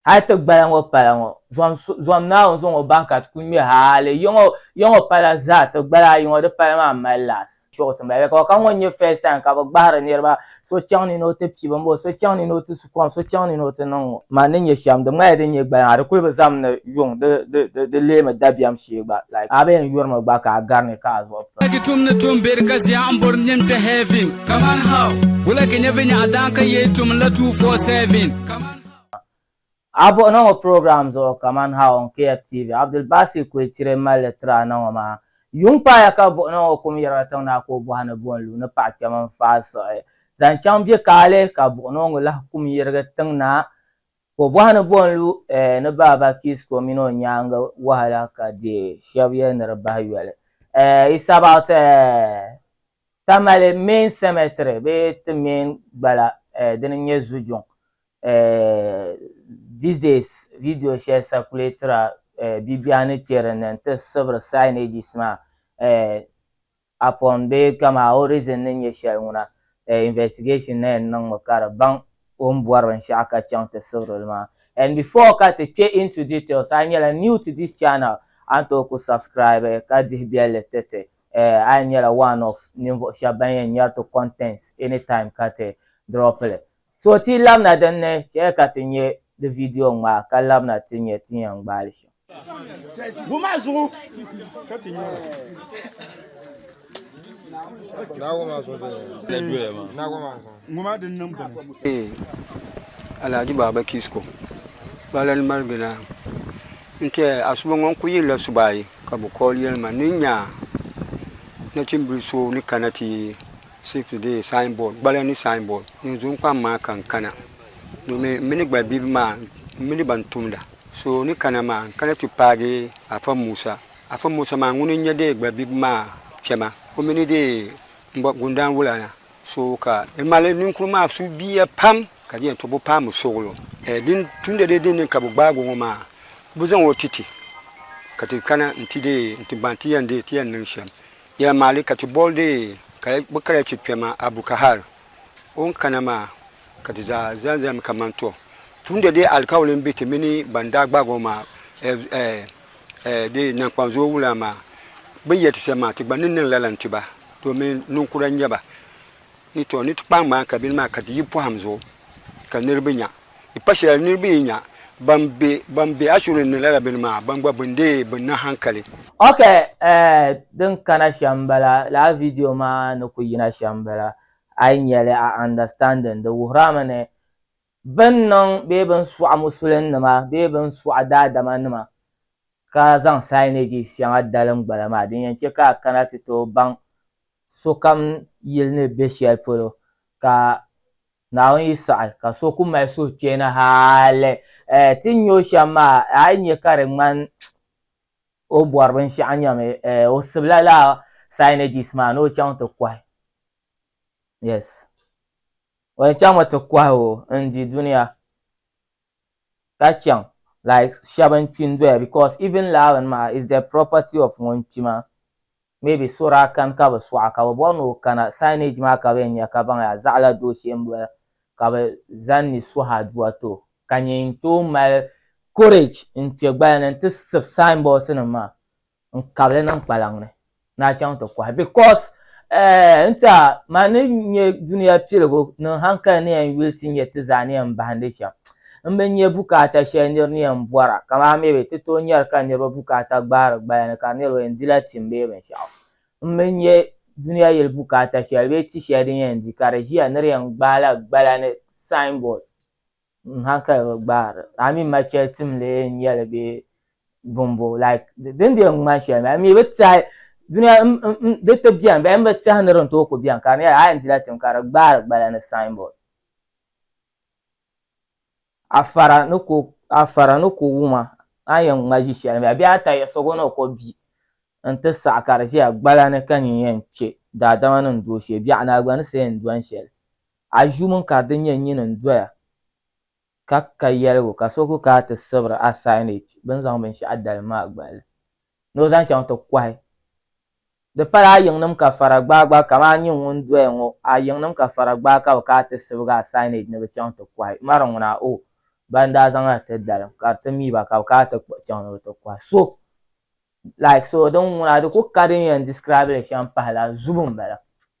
Hal ti gbaya ŋɔ pala ŋɔ, zom Naawuni zaŋ o bahi ka ti ku ŋme hali yiŋɔ pala zaa, ti gbala ayi ŋɔ di pala maa mali laɣis. Chuɣu ti mali ka ŋɔ n-nyɛ first time ka bɛ gbahiri niriba so chaŋ ni ni o ti pibi m-bɔ so chaŋ ni ni o ti su kom so chaŋ ni ni o ti niŋ ŋɔ. Man ni nya shem di ŋmanila din nyɛ gbaya maa di kuli bi zam ni yuŋ di leemi dabiɛm shee gba like a bi yɛn yuri mi gba ka a gari ni ka a zuɣu piri. Wulagi tum ni tum beri ka ziya n bori nim kpe heaven kaman how? Wulagi nyɛ vinyɛɣu daan ka yee tum n la two four seven kaman how? A buɣi ni ŋɔ program zuɣu kaman ha on KFTV, Abdul Baasir Kuechire m-mali li tiri a na ŋɔ maa. Yuŋ paaya ka buɣi ni ŋɔ kum yirila tiŋ na ka o bɔhi ni bɔ n-lu ni paɣa kpɛm n-faai siɣi zaŋ chaŋ bɛ kaali ka buɣi ni ŋɔ lahi kum yirigi tiŋ na ka o bɔhi ni bɔ n-lu ni Baaba Kisko mini o nyaaŋa wahala ka di shɛb yɛli ni di bahi yoli. It's about. Tamale Main Cemetery bee ti main gbala dini n nyɛ Zujuŋ these days video shɛli circulatira bibia ni kpɛ din ni n ti sibiri signages maa upon bee kama origin ni nyɛ shɛli ŋuna investigation na yɛn niŋmi ka di baŋ o ni bɔri binshɛɣu ka chaŋ ti sibiri li maa and before ka ti kpɛ into details a nyɛla new to this channel a ni tooi ku subscribe ka dihi bɛlli tiriti Eh, a yi nyɛla one of ninvuɣu shɛba ban yɛn nyari ti contents anytime ka ti drop li. So ti yi labina din ni, chɛli ka ti nyɛ di video ŋmaa ka labina ti nya ti ni yɛn gbaai li shɛm. Ŋun maa zuɣu ka ti nya o. Alhaji Baba Kisco, Balani Marigina. N-ti a suba ŋɔ n-kul yiri la suba ayi, ka bɛ kɔɔli yɛli ma ni n nya nachimbil so ni kana ti safety dee sainbɔd, gbala ni sainbɔd, din zo n-kpaŋ maa ka n kana, domin m mini gbalbibi maa m mini ba n-tumda. So ni kana maa, n kana ti paagi Afa Musa. Afa Musa maa ŋuni n-nyɛ dee gbalbibi maa kpɛma, o mi ni dee m-bɔ gundaan wula na. So ka di mali ninkuri maa suhubiiya pam ka di nyɛla to bi paami suɣulo. Din tumdi dee din ni ka bi gbaag o ŋɔ maa, ka bi zaŋ o ti ti ka ti kana nti dee nti gbaai ti yɛn dee ti yɛn niŋ shɛm. Yɛla maa li ka ti boli dee ka bi kala ti kpɛma Abu Kahar o ni kana maa ka ti zaa zani zani mi kaman tɔ tumdi dee alikauli m-be ti mini ban daa gbaag o maa. eh, di nankpanzuo wula maa, bini yɛ ti shɛm maa ti gba ni niŋ lala n-ti ba, domin ninkura n-nyɛ ba, ni tɔ ni ti kpaai ŋmaan kabini maa ka di yi pɔhim zuɣu ka niriba nya, di pa shɛli niriba yi nya ban be ban be Ashuri ni lala bini maa, ban gba bin dee bi niŋ hankali. Ok eh, din kana shɛm m-bala, lala video maa ni ku yina shɛm m-bala, a yi nyɛli a understanding, di wuhirami ni Bɛn niŋ bee bɛn sɔɣi musulinima bee bɛn sɔɣi daadamanima ka zaŋ signage shɛŋa dalim gbala maa, din yɛn chɛ ka a kana ti tooi baŋ sokam yili ni be shɛli polo ka Naawuni yi saɣi ka so ku mali suhuchɛna hali ti nya o shɛm maa, a yi nya ka di ŋmani o bɔri binshɛɣu nyami, o sibila lala signages maa ni o chaŋ ti kɔhi. O ni chaŋ mi ti kɔhi o n-di dunia ka chaŋ like shɛba n-kpi n-doya because even laɣiri ni maa is the property of ŋun kpi maa maybe so daa kani ka bi sɔɣi ka bi bɔri ni o kana signage maa ka bɛ yɛn nya ka baŋ yaa zaɣila doo shee m-bɔla ka bɛ zani ni suhi aduwa ti o ka nyɛ n-tooi mali courage n-kpe gbali ni n-ti sib signboards nim maa n kabili niŋ kpalaŋ ni ni a chaŋ ti kɔhi because eh, n tiɛha man ni nyɛ dunia piligu niŋ hankali ni yɛn yuli ti nyɛ ti zaa ni yɛn bahindi shɛm n bi nyɛ bukaata shɛli nir ni yɛn bɔra kamani maybe ti tooi nyari ka niriba bukaata gbaari gbaya ni ka di nyɛla o yɛn dila tim bee binshɛɣu n bi nyɛ dunia yili bukaata shɛli bee ti shɛli din yɛn di ka di ʒiya ni di yɛn gbaai la gbala ni sign board. n hankali bi gbaari a mi ma chɛli tim lee n yɛli bɛ bumbo like din di yɛn ŋmani shɛli maa mi bi tiɛhi duniya di ti biɛni bɛn bi tiɛhi ni din tooi ku biɛni ka di nyɛla a yɛn dila tim ka di gbaari gbala ni signboard a fara ni ko a fara ni ko wuma a yɛn ŋma ʒi shɛli mi a bihi ata yɛ sogo ni o ko bia n ti saɣa ka di ʒiya gbala ni ka nyin yɛn kpɛ daadama ni n dooshɛ biɛɣu ni a gba ni siɛn dɔni shɛli A ʒu mini ka di nyɛ nyini n-doya ka ka yɛligu ka so ku kana ti sibiri a signage bɛ ni zaŋ binshɛɣu dalim maa gbali ni o zaŋ chaŋ ti kɔhi. Di pala a yiŋnim ka fara gbaai gba kaman a nyini ŋun doya ŋɔ, a yiŋnim ka fara gbaai ka bɛ kana ti sibigi a signage ni bɛ chaŋ ti kɔhi. Mari ŋuna, O, ban daa zaŋ na ti dalim ka di ti mi ba ka bɛ kana ti kpuɣi chaŋ ni bɛ ti kɔhi. So, like so, din ŋuna di ku ka din yɛn describe li shɛm pahi la zubu m-bala.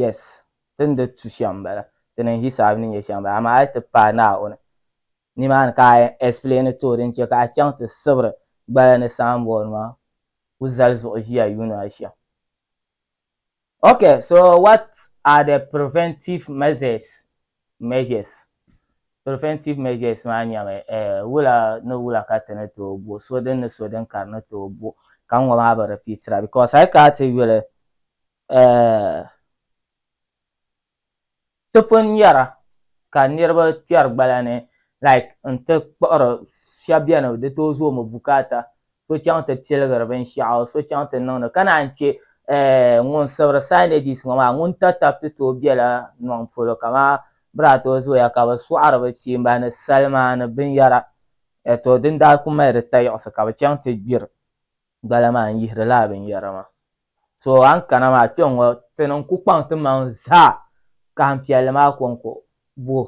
yes ti ni di tu shɛm n bala ti ni hisaab ni nyɛ shɛm n bala amaa a yi ti paai Naawuni nimaani ka a yɛn explain ti o din chɛ ka a chaŋ ti sibiri gbaya ni signboard maa ku zali zuɣu ʒiya yuun a shɛm Okay, so what are the preventive measures? measures? Preventive measures maa nyɛmi eh, wula ni wula ka ti ni tooi bo, so din ni so din ka di ni tooi bo, ka ŋɔ maa bi repeatira because a yi kana ti yuli Ti pun nyara ka niriba kpɛri gbala ni like n-ti kpuɣiri shɛba beni di tooi zooi mi bukaata so chaŋ ti piligiri binshɛɣu so chaŋ ti niŋdi ka naan che ŋun sibiri signages ŋɔ maa ŋun tatab ti tooi bela niɔŋ polo kaman bɛ daa tooi zooya ka bɛ sɔɣiri bɛ kpiimba ni salima ni binyɛra tɔ din daa kuli mali di tayiɣisi ka bɛ chaŋ ti gbiri gbala maa n-yihiri lala binyɛra maa. So a ni kana maa kpe ŋɔ ti niŋ ku kpaŋ ti maŋ zaa kahim piɛlli maa kɔŋko bo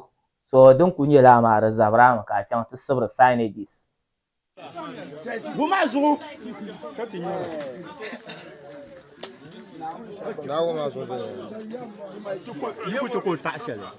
so din ku nyɛla a maa di zabiri a mi ka a chaŋ ti sibiri signages. Bɔ maa zuɣu ka ti nyɛ o.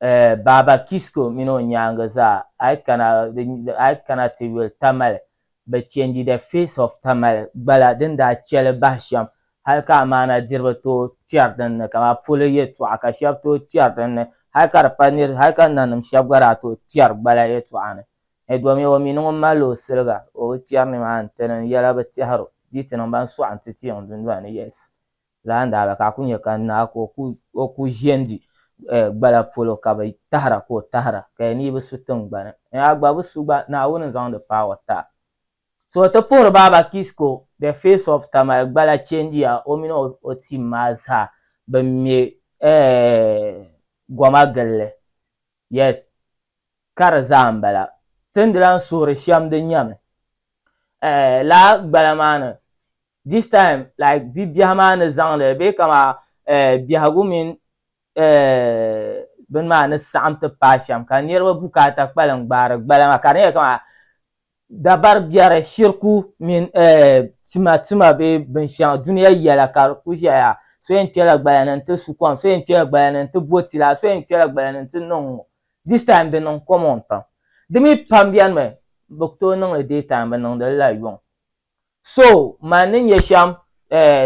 Eh, Baaba Kisco mini o nyaangi zaa, a yi kana, a yi kana ti yuli Tamale, bɛ chɛndi The Face of Tamale gbala din daa chɛli bahi shɛm hali ka amaana diriba tooi kpɛri din ni kamani polo yɛltɔɣa ka shɛba tooi kpɛri din ni hali ka di pa nir, hali ka nanim shɛba gba daa tooi kpɛri gbala yɛltɔɣa ni. Eh, domin o mi ni ŋun malila o siliga, o bi kpɛri nimaani, ti niŋ yɛla bi tɛhir o, di yi ti niŋ ba n-sɔɣi nti teei ŋun dundoli ni, yes. laa n-daa ba ka a ku nya ka naa ka o ku ʒiendi gbala polo ka bɛ tahira ka o tahira, ka ya ni yi bi su tiŋgbani ni a gba bi su gba, Naawuni n-zaŋdi power ti a. So ti puhiri ba ba Kisco the face of Tamale gbala changeya o mini o team maa zaa bɛ me goma gilli Yes, ka di zaa n bala. Ti ni lahi suhiri shɛm di nyɛmi eh, laa gbala maa ni. This time like bibiɛhi maa ni zaŋli bee kama eh, biɛhigu mini eh, bini maa ni saɣim ti paai shɛm ka niriba bukaata kpalim gbaari gbala maa ka di nyɛla kama dabari biɛri, shiriku mini tima tima bee binshɛŋa dunia yɛla ka di kuli ʒɛya so yɛn kpɛla gbaya ni n-ti su kom so yɛn kpɛla gbaya ni n-ti bo ti laa so yɛn kpɛla gbaya ni n-ti niŋ ŋɔ this time di niŋ common pam di mi pam beni mi bɛ ku tooi niŋ li day time bɛ niŋdi li la yuŋ so man ni nya shɛm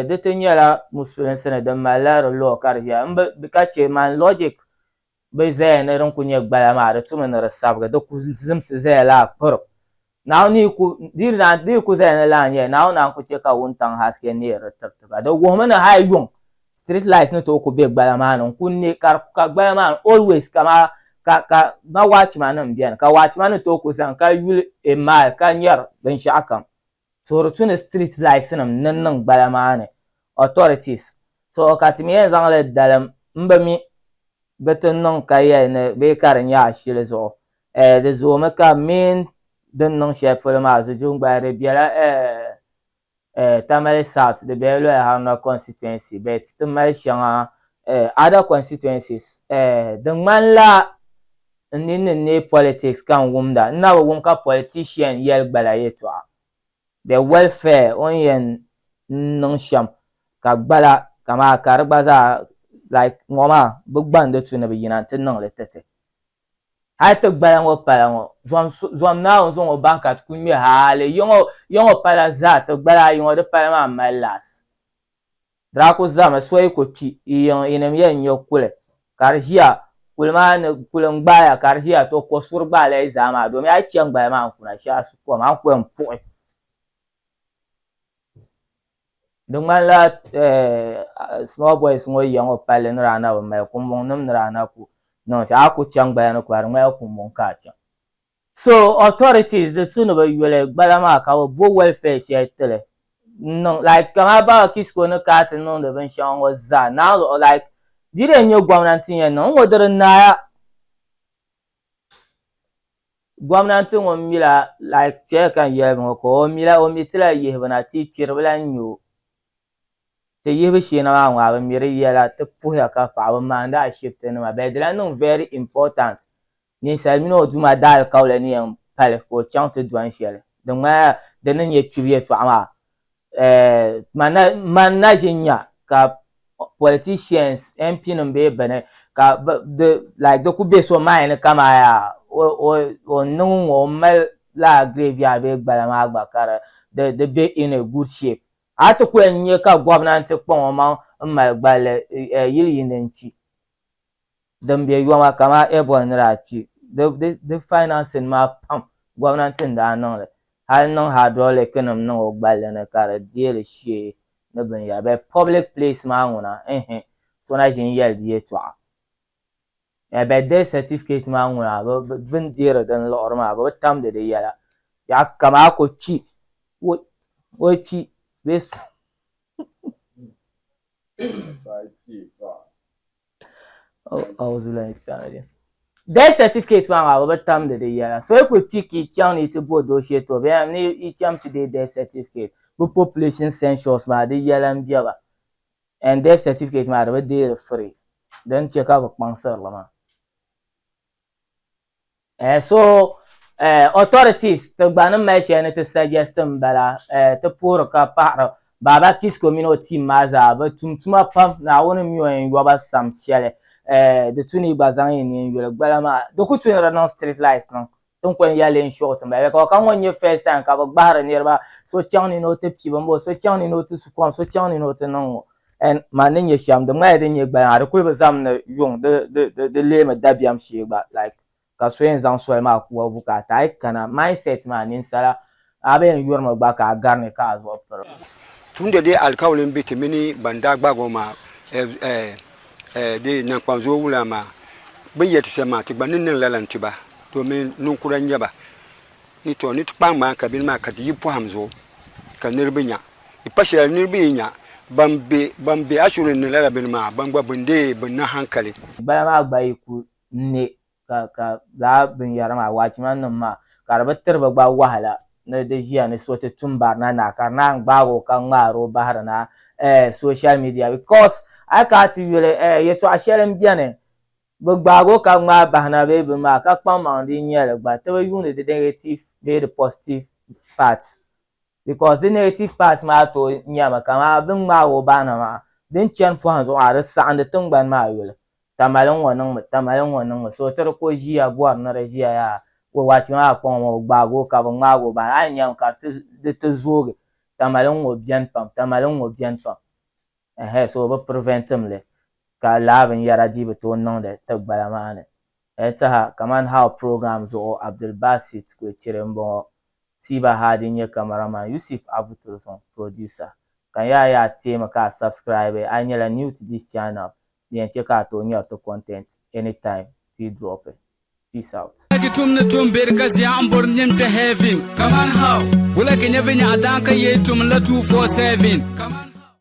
di ti nyɛla musulinsi ni din mali la di law ka di ʒɛya m bi ka che man logic bi zaya ni din kuli nyɛ gbala maa di tumi ni di sabigi di ku zimsi zaya laa kpirim Naawuni yi ku di yi ku zaya ni laa n-yɛli Naawuni a ni ku chɛ ka wuntaŋ haske neei di tiriti ba di wuhimi ni hali yuŋ street light ni tooi ku be gbala maa ni n-kuli neei ka di ka gbala maa ni always ka ma ka ka ma watchman nim beni ka watchman ni tooi ku zani ka yuli a mile ka nyari binshɛɣu kam Toori tu ni street lights nim ni niŋ gbala maa ni authorities so ka ti mi yɛn zaŋ li dalim n bi mi bi ti niŋ ka yɛli ni bee ka di nyɛ ashili zuɣu eh di zoomi ka meen din niŋ shɛli polo maa zuju n gbaya di bɛla eh eh Tamale South di bɛla Loya Haruna constituency but ti mali shɛŋa eh other constituencies eh di ŋmani la N ninni n neei politics ka n wumda, n na bi wum ka politician yɛli gbala yɛltɔɣa. The welfare o ni yɛn niŋ shɛm ka gbala kamaa ka di gba zaa like ŋɔ maa bi gba n di tu ni bi yina n ti niŋ li titi. Hali ti gbala ŋɔ pala ŋɔ zom zom Naawuni zaŋ o bahi ka ti ku ŋme haali yiŋɔ yiŋɔ pala zaa ti gbala ayi ŋɔ di pala maa m mali laɣis. Daa ku zahimi soyi ku kpi yi yiŋ yinim yɛn nyɔ kuli ka di ʒiya kuli maa ni kuli n gbaai ya ka di ʒiya tɔ ko suri gbaai la yi zaa maa domi a yi chani gbaya maa n kuna shee a su kom a ni ku yɛn puɣi di ŋmanila small boys ŋɔ yiya ŋɔ palli ni daa na bi mali kumbuŋ nim ni daa na ku niŋ shɛm a ku chaŋ gbaya ni kura di ŋmanila kumbuŋ ka a chaŋ So authorities di tu ni bi yuli gbala maa ka bi bo welfare shɛli tili n niŋ like kamaa Baba Kisco ni kaa ti niŋdi bin shɛŋa ŋɔ zaa naan luɣu like di dii nyɛ gomnanti n yɛn niŋ ŋɔ di di naai a gomnanti ŋun mila like shɛli ka n yɛli ŋɔ ka o mila o mi tila yihibu na ti kpiribila n nyɛ o ti yihibu shee na maa ŋɔ a bi mi di yɛla ti puhiya ka paɣaba maandi ashibiti nima bɛ di lahi niŋ very important Ninsal mini o Duuma daalikauli ni yɛn pali ka o chaŋ ti dɔni shɛli din ŋmanila di ni nyɛ kpibu yɛtɔɣa maa. Eeh, man na ʒi nya ka politicians, MP nim bee bini ka di like di ku be so mind ni ka maa yaa o o ni niŋ ŋɔ o ni mali lala graveyard bee gbala maa gba ka di di be in a good shape. A ti ku yɛn nya ka gobnanti kpaŋ o maŋ m mali gballi yili yini n kpi. din be yoma kamani Ebony ni daa kpi di financing maa pam gomnanti n daa niŋli hali niŋ hydraulic nim niŋ o gballi ni ka di deeli shee ni binyera but public place maa ŋuna ehe so na ʒin yeli di yetɔɣa eh but death certificate maa ŋuna bini deeri din liɣiri maa bɛ bi tamdi di yela yaɣa ka maa ku kpi o kpi bee Death certificate maa maa bi bi tamdi di yɛla so yi kuli ti ka i chaŋ ni i ti bo doo shee too bee ha ni i chaŋ ti deei death certificate bi population census maa di yɛla n bɛba and death certificate maa di bi deeri free din chɛ ka bi kpaŋsiri li maa. Eh, so eh, authorities ti gba ni mali shɛli ni ti suggest n bala eh, ti puhiri ka paɣiri Baaba Kisco mini o team maa zaa bɛ tum tuma pam Naawuni mi o yɛn yɔba sam shɛli eh, di tu ni yi gba zaŋ yi nini yuli gbala maa di ku tu ni di niŋ street lights niŋ tin ko n ya leei n shɔɣu ti mali because ka ŋɔ n nyɛ first time ka bɛ gbahiri niriba so chaŋ ni ni o ti pibi m bo so chaŋ ni ni o ti su kom so chaŋ ni ni o ti niŋ ŋɔ and man ni nyɛ shɛm di ŋmaya din nyɛ gbaya maa di kuli bi zaŋm ni yuŋ di di di di leemi dabiɛm shee gba like ka so yɛn zaŋ soli maa kuwa vu ka a ti a yi kana mindset maa ninsala a bi yɛn yurimi gba ka a gari ni ka a zuɣu piri Tumdi di alikauli m-be ti mini ban daa gbaag o maa di naŋkpanzoo wula maa bɛ yɛl ti shɛm maa ti gba ni niŋ lala n-ti ba domin niŋkura n-nyɛ ba ni tɔ ni ti kpaai ŋmaai kabini maa ka ti yi pɔhim zuɣu ka niriba nya Di pa shɛli ni di bi yi nya ban be ban be Ashuri ni lala bini maa, ban gba bin dee bi niŋ hankali. Bala maa gba yi ku ne ka, ka lala binyara maa, watchman nim maa, ka di bi tiri ba gba wahala ni di ʒiya ni so ti tum barina na, ka di naan gbaag o ka ŋmaar o bahiri na eh, social media, because a yi kana ti yuli eh, yɛtɔɣa shɛli m-beni, bi gbaag o ka ŋmaai bahi na bee bini maa, ka kpaŋmaŋ di nyɛli gba, ti bi yuuni di negative bee di positive part. because di negative part maa tooi nyɛmi kaman bɛ ni ŋmaag o baana maa di ni chani pɔhim zuɣu maa di saɣindi tiŋgbani maa yoli tamali n-ŋɔ niŋ mi tamali n-ŋɔ niŋ mi so ti di ka o ʒiya bɔri ni di ʒiya yaa ka o wachi maa kpaŋ o maa o gbaagi o ka bɛ ŋmaag o baana a ni nyami ka di ti zoogi tamali n-ŋɔ beni pam tamali n-ŋɔ beni pam ɛɛh so bɛ prevent mi li ka lala binyara dii bi tooi niŋdi tigbala maa ni N taha kaman How program zuɣu Abdulbasit Kwechere m-bɔŋɔ. Siba Hadi n-nyɛ cameraman, Yusif Abu Tursong producer. Ka n yaa yaa teemi ka a subscribe a yi nyɛla new to this channel di yɛn chɛ ka a tooi nyari ti content anytime ti yi dropi. Peace out. Wulagi tum ni tum beri ka zia n bori nim ti heaven. Kaman how? Wulagi nyɛ vinyɛɣu daan ka yee tum n la 247. Kaman.